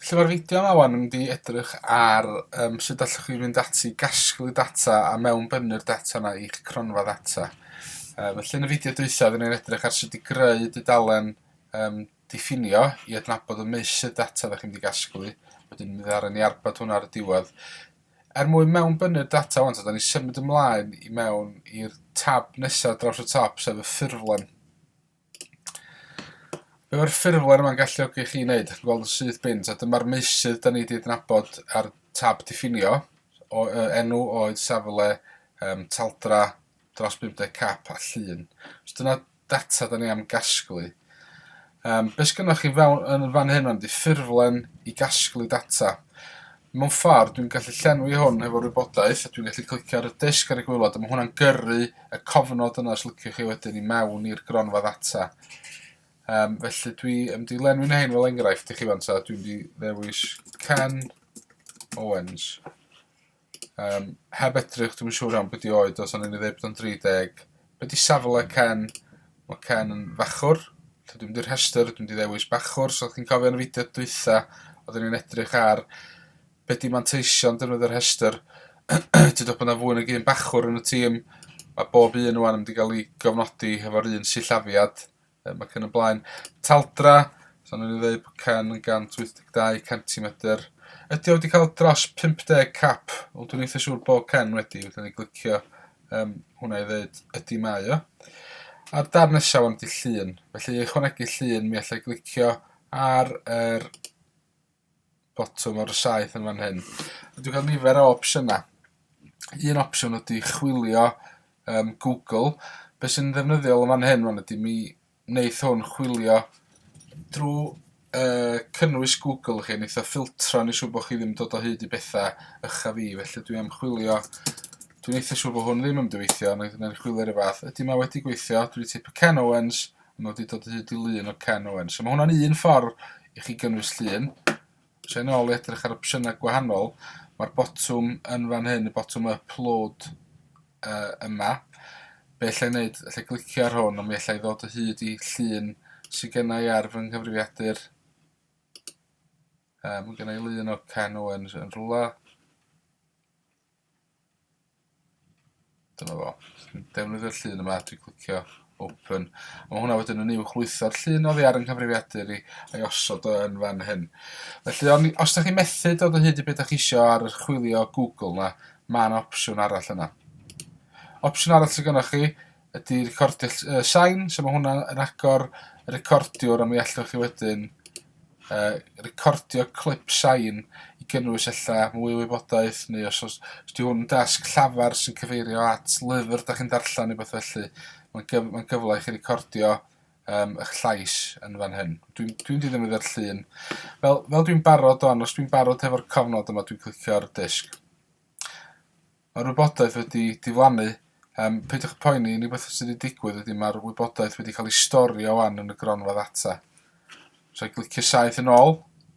Felly mae'r fideo yma wan yn mynd i edrych ar um, sut allwch chi fynd ati i gasglu data a mewn bynnu'r data yna i'ch cronfa ddata. Um, felly yn y fideo dwysa, fydden ni'n edrych ar sut i greu dudalen um, diffinio i adnabod y meusydd data ddech chi'n mynd i gasglu. Wedyn mi ddaran ni arbad hwnna ar y diwedd. Er mwyn mewn bynnu'r data ond, da ni symud ymlaen i mewn i'r tab nesaf draws y top, sef y ffurflen. Be mae'r ffurflen yma'n galluogi chi i wneud? Chi'n gweld yn syth bint, a dyma'r meysydd da ni wedi adnabod ar tab diffinio, o, uh, enw, oed, safle, um, taldra, dros 50 cap a llun. So dyna data da ni am gasglu. Um, be sgynnoch chi fewn, yn fan hyn, mae'n di ffurflen i gasglu data. Mewn ffordd, dwi'n gallu llenwi hwn hefo'r wybodaeth, a dwi'n gallu clicio ar y disg ar y gwaelod, a mae hwnna'n gyrru y cofnod yna os liciwch chi wedyn i mewn i'r gronfa ddata. Um, felly dwi yn mynd i lenwi na hyn fel enghraifft i chi fan ta, dwi'n mynd i ddewis Ken Owens. Um, heb edrych, dwi'n siŵr iawn beth i oed, os o'n i'n ei ddweud bod o'n 30, Be di safle Ken? Mae Ken yn fachwr. Lle dwi'n mynd i'r rhestr, dwi'n mynd i ddewis bachwr. So chi'n cofio yn y fideo dwytha, oedden ni'n edrych ar be di manteision defnydd yr rhestr. Ti'n dod bod yna fwy nag un bachwr yn y tîm. Mae bob un o'n yn mynd i gael ei gofnodi hefo'r un sillafiad. um, ac yn y blaen. Taldra, so nhw'n dweud bod Ken yn 182 centimetr. Ydy o wedi cael dros 50 cap, ond dwi'n eitha siŵr bod Ken wedi, wedyn ni glicio um, hwnna i ddweud ydy mae o. A'r dar nesaf ond i llun, felly i ychwanegu llun mi allai glicio ar yr er botwm o'r saeth yn fan hyn. A dwi'n cael nifer o opsiynau. Un opsiwn ydy chwilio um, Google. Be sy'n ddefnyddiol yn fan hyn fan ydy mi wneud hwn chwilio drwy uh, cynnwys Google chi, wneud o ffiltro ni siw bod chi ddim dod o hyd i bethau ycha fi, felly dwi am chwilio Dwi'n eitha siw bod hwn ddim yn dyweithio, ond oedd yna'n chwilio rhywbeth. Ydy mae wedi gweithio, dwi wedi teipio Ken Owens, yn nodi dod o hyd i lun o Ken Owen. So mae hwnna'n un ffordd i chi gynnwys llun. Os e'n ôl i edrych ar opsiynau gwahanol, mae'r botwm yn fan hyn, y botwm upload uh, yma. Be allai wneud, allai glicio ar hwn, ond mi allai ddod o hyd i llun sy'n gennau ar fy nghyfrifiadur. Um, mae gennau lun o Ken Owen yn rhywle. Dyna fo. Defnyddio'r llun yma, dwi'n clicio open. A mae hwnna wedyn yn uwch lwytho'r llun oddi ar yng nghyfrifiadur i a'i osod o yn fan hyn. Felly, on, os da chi methu dod o hyd i beth da chi isio ar yr chwilio Google na, mae'n opsiwn arall yna. Opsiwn arall sydd gennych chi ydy recordio uh, sain, so mae hwnna yn agor y recordiwr a mi allwch chi wedyn uh, recordio clip sain i gynnwys ella mwy o wybodaeth neu os oes ydy hwn dasg llafar sy'n cyfeirio at lyfr da chi'n darllen neu beth felly. Mae'n gyf mae gyfle i chi recordio um, eich llais yn fan hyn. Dwi'n dwi, dwi ddim yn ddod llun. Fel, fel dwi'n barod o'n, os dwi'n barod hefo'r cofnod yma, dwi'n clicio'r disg. Mae'r wybodaeth wedi diflannu. Yym, peidiwch â poeni, unig beth sydd wedi digwydd ydy mae'r wybodaeth wedi cael ei storio 'wan yn y gronfa ddata. Rhaid glicio saith yn ôl,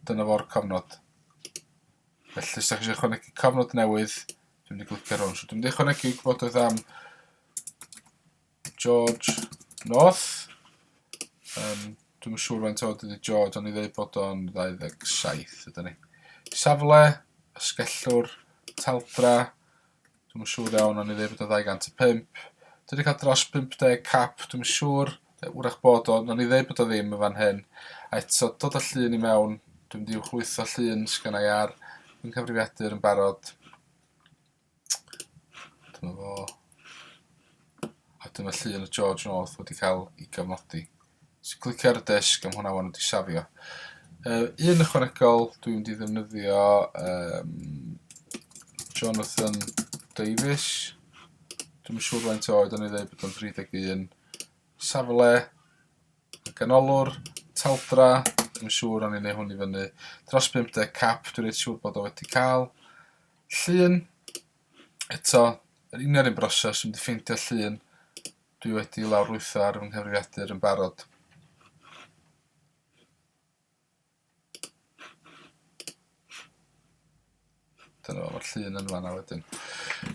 dyna fo'r cofnod. Felly, os da chi eisiau ychwanegu cofnod newydd, dwi'n mynd i glicio'r hwn. So, dwi'n mynd i ychwanegu gwybodaeth am George North. Um, Dwi'n siŵr faint o dydy George, ond i ddweud bod o'n 27 ydy ni. Safle, ysgellwr, taldra, dwi'n siŵr iawn, ond i ddweud bod o'n 205. Dwi wedi cael dros 50 cap, dwi'n siŵr, wrach bod o'n, ond i ddweud bod o ddim yn fan hyn. A eto, dod o llun i mewn, dwi'n mynd i'w chlwytho llun sgynnau ar, dwi'n cyfrifiadur yn barod. Dyna fo. A dyna llun o George North wedi cael ei gofnodi. So clicio ar y disg am hwnna wan wedi safio. Uh, un ychwanegol dwi'n mynd i ddefnyddio um, Jonathan Davis. Dwi'n siŵr faint oed o'n i ddweud bod o'n 31. Safle, ganolwr, taldra, dwi'n siŵr o'n i'n ei hwn i fyny. Dros 50 cap, dwi'n reit siŵr bod o wedi cael. Llun, eto, yr union un broses, dwi'n mynd i ffeindio llun dwi wedi lawrlwytho ar fy nghyfrifiadur yn barod. Dyna fo'r llun yn fanna wedyn.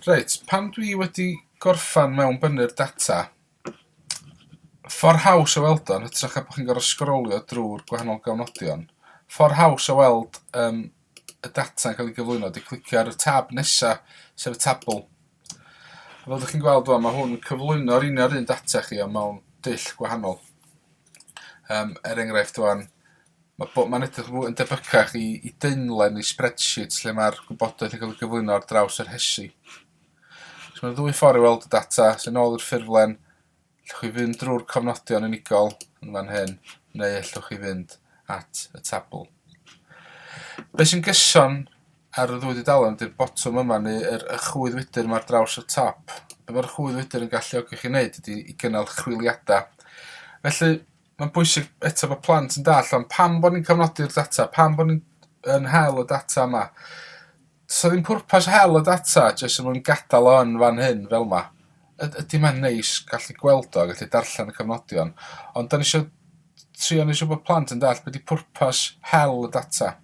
Reit, pan dwi wedi gorffan mewn bynnu'r data, ffordd haws o weld o'n hytrach a bod chi'n gorfod sgrolio drwy'r gwahanol gofnodion, ffordd haws o weld um, y data yn cael ei gyflwyno ydy clicio ar y tab nesa, sef y tabl. A fel ydych chi'n gweld rwan, mae hwn yn cyflwyno'r unio'r un data chi ond mewn dull gwahanol. Um, er enghraifft rwan, mae bod mae'n edrych fwy yn debycach i, i deinlen i spreadsheet lle mae'r gwybodaeth yn cael ei gyflwyno ar draws yr hesi. So mae'r ddwy ffordd i weld y data sy'n ôl i'r ffurflen Allwch chi fynd drwy'r cofnodion unigol yn fan hyn, neu allwch chi fynd at y tabl. Be sy'n gyson ar y ddwy dudalen ydy'r botwm yma neu yr y chwydd wydr yma ar draws y top. Be mae'r chwydd wydr yn galluogi chi wneud ydy i gynnal chwiliadau. Felly, Mae'n bwysig eto bod plant yn dall am pam bod ni'n cofnodi'r data, pam bod ni'n yn hel y data yma. Does ddim pwrpas hel y data jyst yn mwyn gadael o yn fan hyn fel yma. Ydy mae'n neis gallu gweld o, gallu darllen y cofnodion, ond da ni eisiau trio neu siw bod plant yn dall beth di pwrpas hel y data.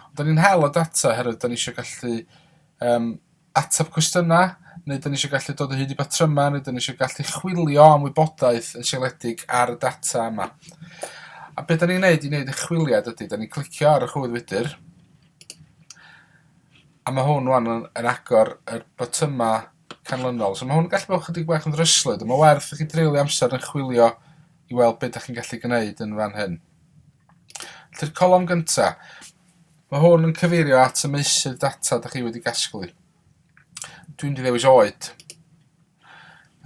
Ond da ni'n hel y data herwydd da ni eisiau gallu um, ateb cwestiynau, neu dan ni eisiau gallu dod o hyd i batrymau, neu dan ni eisiau gallu chwilio am wybodaeth yn sialedig ar y data yma. A beth dan ni'n gwneud i wneud y chwiliad ydy, dan ni'n clicio ar y chwydd wydr, a mae hwn wan yn, yn agor y botymau canlynol. So mae hwn yn gallu bod chydig bach yn ddryslyd, ond mae werth i chi dreulio amser yn chwilio i weld beth ydych chi'n gallu gwneud yn fan hyn. Lly'r colofn gyntaf, Mae hwn yn cyfeirio at y meysydd data da chi wedi gasglu. Dwi'n di ddewis oed.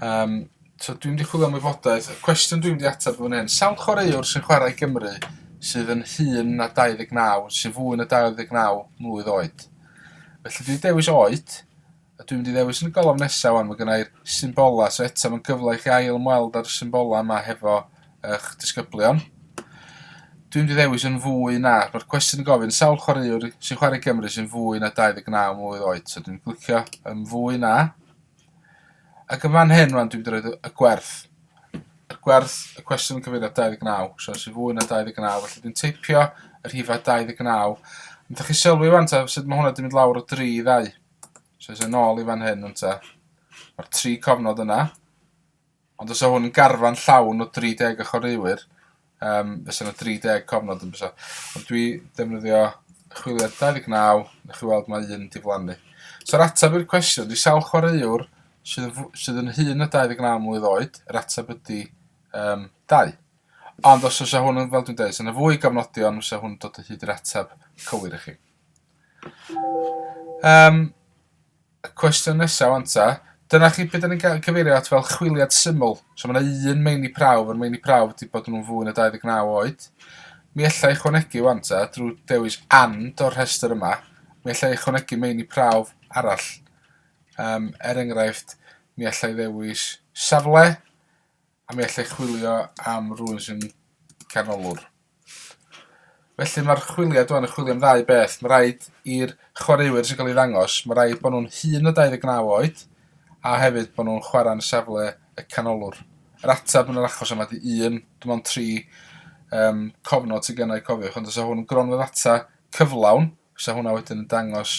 Um, so dwi'n di chwilio am wybodaeth. Y cwestiwn dwi'n di ateb yn hyn. Sawl chwaraewr sy'n chwarae Gymru sydd yn hun na 29, sy'n fwy na 29 mlwydd oed? Felly dwi'n dewis oed, A dwi'n mynd i ddewis yn y golofn nesa wan, mae gennai'r symbolau, so eto mae'n gyfle i chi ail ymweld â'r symbolau yma hefo eich disgyblion. Dwi'n mynd i ddewis yn fwy na, mae'r cwestiwn yn gofyn sawl chwaraewr sy'n chwarae Gymru sy'n fwy na 29 mlwydd oed, so dwi'n glicio yn fwy na. Ac yn fan hyn rwan dwi'n mynd i roed y gwerth. Y gwerth, y cwestiwn yn cyfeirio 29, so sy'n fwy na 29, felly dwi'n teipio yr hifa 29. Ond da chi sylwi wan ta sut mae hwnna wedi mynd lawr o 3 i ddau. So eisiau nôl i fan hyn, ynta. Mae'r tri cofnod yna. Ond os o hwn yn garfan llawn o 30 o chwaraewyr, um, fes yna 30 cofnod yn bysa. Ond dwi defnyddio chwiliad 29, na chi weld mae un diflannu. So'r atab i'r cwestiwn, di sawl chwaraewr sydd, sydd yn hun na 29 mlynedd oed, yr atab ydy um, 2. Ond os oes hwn yn, fel dwi'n dweud, sy'n fwy gofnodion, oes hwn dod o hyd i'r atab cywir i chi. Yym, y cwestiwn nesaf wan ta. Dyna chi beth ni'n cael cyfeirio at fel chwiliad syml. So mae yna un meini prawf, yr meini prawf wedi bod nhw'n fwy na 29 oed. Mi allai ychwanegu wan ta, drwy dewis and o'r rhestr yma, mi allai ychwanegu meini prawf arall. Um, er enghraifft, mi allai ddewis safle, A mi allai chwilio am rhywun sy'n canolwr. Felly mae'r chwiliad o'n yn chwilio am ddau beth. Mae rhaid i'r chwaraewyr sy'n cael ei ddangos, mae rhaid bod nhw'n hun o 29 oed, a hefyd bod nhw'n chwarae'n safle y canolwr. Yr ateb yn yr achos yma di un, dim ond tri um, cofnod sy'n gennau cofiwch, ond os yw hwn yn gronfa ddata cyflawn, Fysa hwnna wedyn yn dangos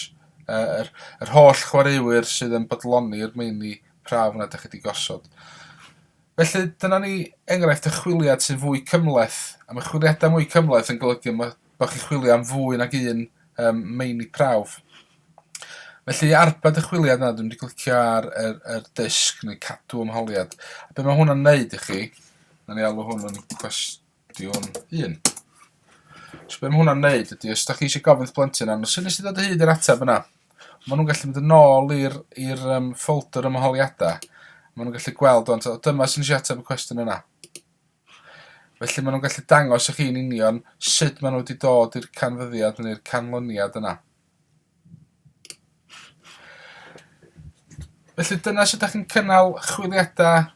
yy yr yr holl chwaraewyr sydd yn bodloni'r meini prawf yna dych chi 'di gosod. Felly dyna ni enghraifft y chwiliad sy'n fwy cymhleth, a mae chwiliadau mwy cymhleth yn golygu ma' bod chi'n chwilio am fwy nag un um, meini prawf. Felly arbed y chwiliad yna, dwi'n wedi clicio ar yr, yr disg neu cadw ymholiad. A be mae hwnna'n neud i chi, na ni alw hwn yn cwestiwn Ydy o'n un? So be mae hwnna'n neud ydy, os da chi eisiau gofyn wrth blentyn am, sy'n nes i ddod o hyd i'r ateb yna? Mae nhw'n gallu mynd yn ôl i'r um, ffolder yma holiadau. Mae nhw'n gallu gweld ond dyma sy'n eisiau ateb y cwestiwn yna. Felly mae nhw'n gallu dangos i chi'n union sut maen nhw wedi dod i'r canfyddiad neu'r canlyniad yna. Felly dyna sut dach chi'n cynnal chwiliadau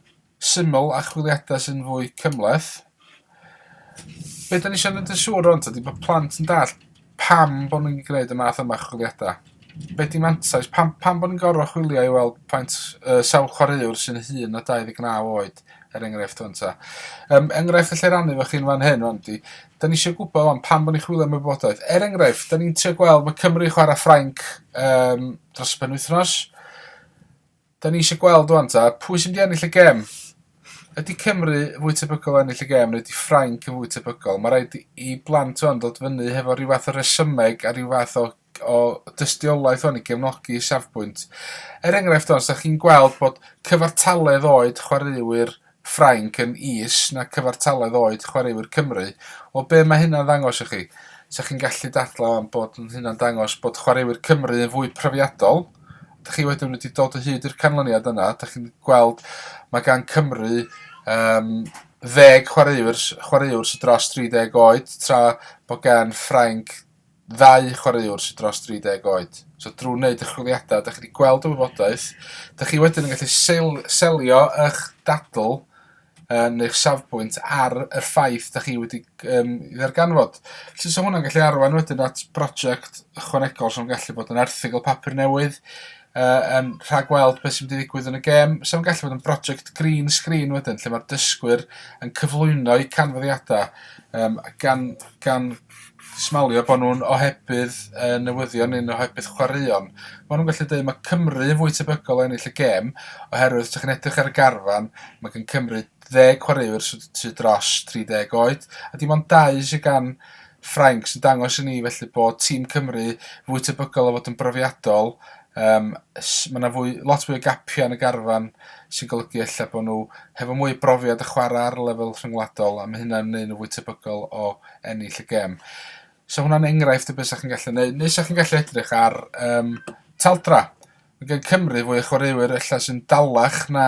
syml a chwiliadau sy'n fwy cymhleth. Be da ni eisiau gwneud yn siŵr ond ydy bod plant yn dall pam bod nhw'n gwneud y math yma chwiliadau. Be di mantais? Pam, pam bod ni'n gorfod chwilio i weld plant uh, sawl chwaraewr sy'n hun o 29 oed, er enghraifft o'n ta. Um, enghraifft allai rannu fo chi'n fan hyn, ond di, 'Da ni isio gwbod 'wan pam bo' ni chwilio am y wybodaeth. Er enghraifft 'da ni'n trio gweld ma' Cymru yn chwara' Ffrainc yym dros y penwythnos. 'Da ni isio gweld ŵan 'ta pwy sy myn' i ennill y gêm. Ydi Cymru fwy tebygol o ennill y gêm neu ydi Ffrainc yn fwy tebygol? Ma' raid i i blant 'wan dod fyny hefo ryw fath o resymeg a ryw fath o o dystiolaeth hwn i gefnogi safbwynt. Er enghraifft hon, sa chi'n gweld bod cyfartaledd oed chwaraewyr Ffrainc yn is na cyfartaledd oed chwaraewyr Cymru. O be mae hynna'n ddangos i chi? Sa chi'n gallu dadlau am bod hynna'n dangos bod chwaraewyr Cymru yn fwy profiadol. Da chi wedyn wedi dod o hyd i'r canlyniad yna. Da chi'n gweld mae gan Cymru um, ddeg chwaraewr, chwaraewr sy'n dros 30 oed, tra bod gan Ffrainc ddau chwaraewr sydd dros 30 oed. So drwy wneud y chwiliadau, da chi wedi gweld y wybodaeth, da chi wedyn yn gallu sel selio eich dadl um, neu'ch safbwynt ar y ffaith da chi wedi um, ddarganfod. Felly so hwnna'n gallu arwain wedyn at brosiect ychwanegol sy'n gallu bod yn erthigol papur newydd, uh, um, rhag weld beth sy'n mynd i ddigwydd yn y gêm, sy'n gallu bod yn brosiect green screen wedyn, lle mae'r dysgwyr yn cyflwyno'u canfyddiadau um, gan, gan smalio bod nhw'n ohebydd y newyddion neu'n ohebydd chwaraeon. Maen nhw'n gallu dweud mae Cymru yn fwy tebygol o ennill y gêm oherwydd os ydych chi'n edrych ar y garfan mae gen Cymru ddeg chwaraewr sydd sy dros 30 oed a dim ond dau sydd gan Ffrainc sy'n dangos i ni felly bod tîm Cymru fwy tebygol o fod yn brofiadol Yym s- ma' 'na fwy lot fwy o gapia' yn y garfan sy'n golygu ella bo' nhw hefo mwy o brofiad y chwara' ar lefel rhyngwladol a ma' hynna'n neu' nw fwy tebygol o ennill y gêm. So hwnna'n enghraifft o be' 'sach chi'n gallu neu' neu 'sach chi'n gallu edrych ar yym taldra'. Ma' gen Cymru fwy o chwaraewyr ella sy'n dalach na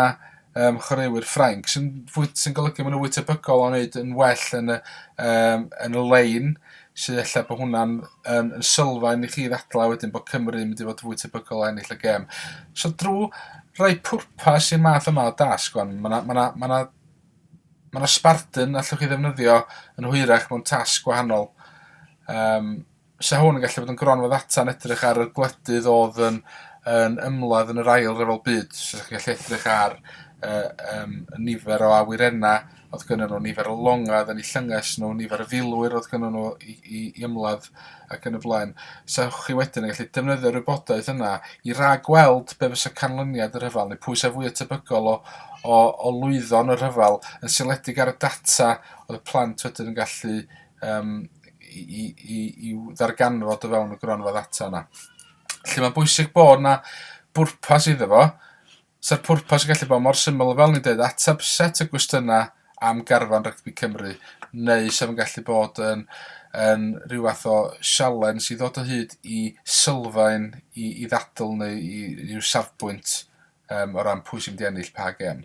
um, chwaraewyr Ffrainc, sy'n sy golygu maen nhw fwy tebygol o wneud yn well yn y, um, yn y lein, sy'n efallai bod hwnna'n yn, yn sylfaen i chi ddadlau wedyn bod Cymru yn mynd i fod fwy tebygol o ennill y gem. So drwy rhoi pwrpas i'r math yma o dasg, ond mae yna ma ma ma ma Spartan allwch chi ddefnyddio yn hwyrach mewn tasg gwahanol. Um, 'Sa hwn yn gallu bod yn gronfa ddata yn edrych ar y gwledydd odd yn yn ymladd yn yr ail ryfel byd so chi'n gallu edrych ar yy yym y nifer o awyrena odd gynnon nhw, nifer o longa odd yn 'u llynges nhw, nifer o filwyr odd gynnon nhw i i i ymladd ac yn y blaen. 'Sa chi wedyn yn gallu defnyddio'r wybodaeth yna i ragweld be' fysa canlyniad y rhyfel neu pwy sa fwya tebygol o o o lwyddo yn y rhyfel yn seiliedig ar y data odd y plant wedyn yn gallu yym i, i, i ddarganfod o fewn y gronfa ddata yna. Lle mae'n bwysig bod yna bwrpas iddo fo, Sa'r pwrpas yn gallu bod mor syml fel ni'n dweud ateb set y gwestiynau am garfan rygbi Cymru, neu sef yn gallu bod yn, yn rhyw fath o sialen sydd ddod o hyd i sylfaen i, i ddadl neu i, i ryw safbwynt um, o ran pwy sy'n mynd i ennill pa gem.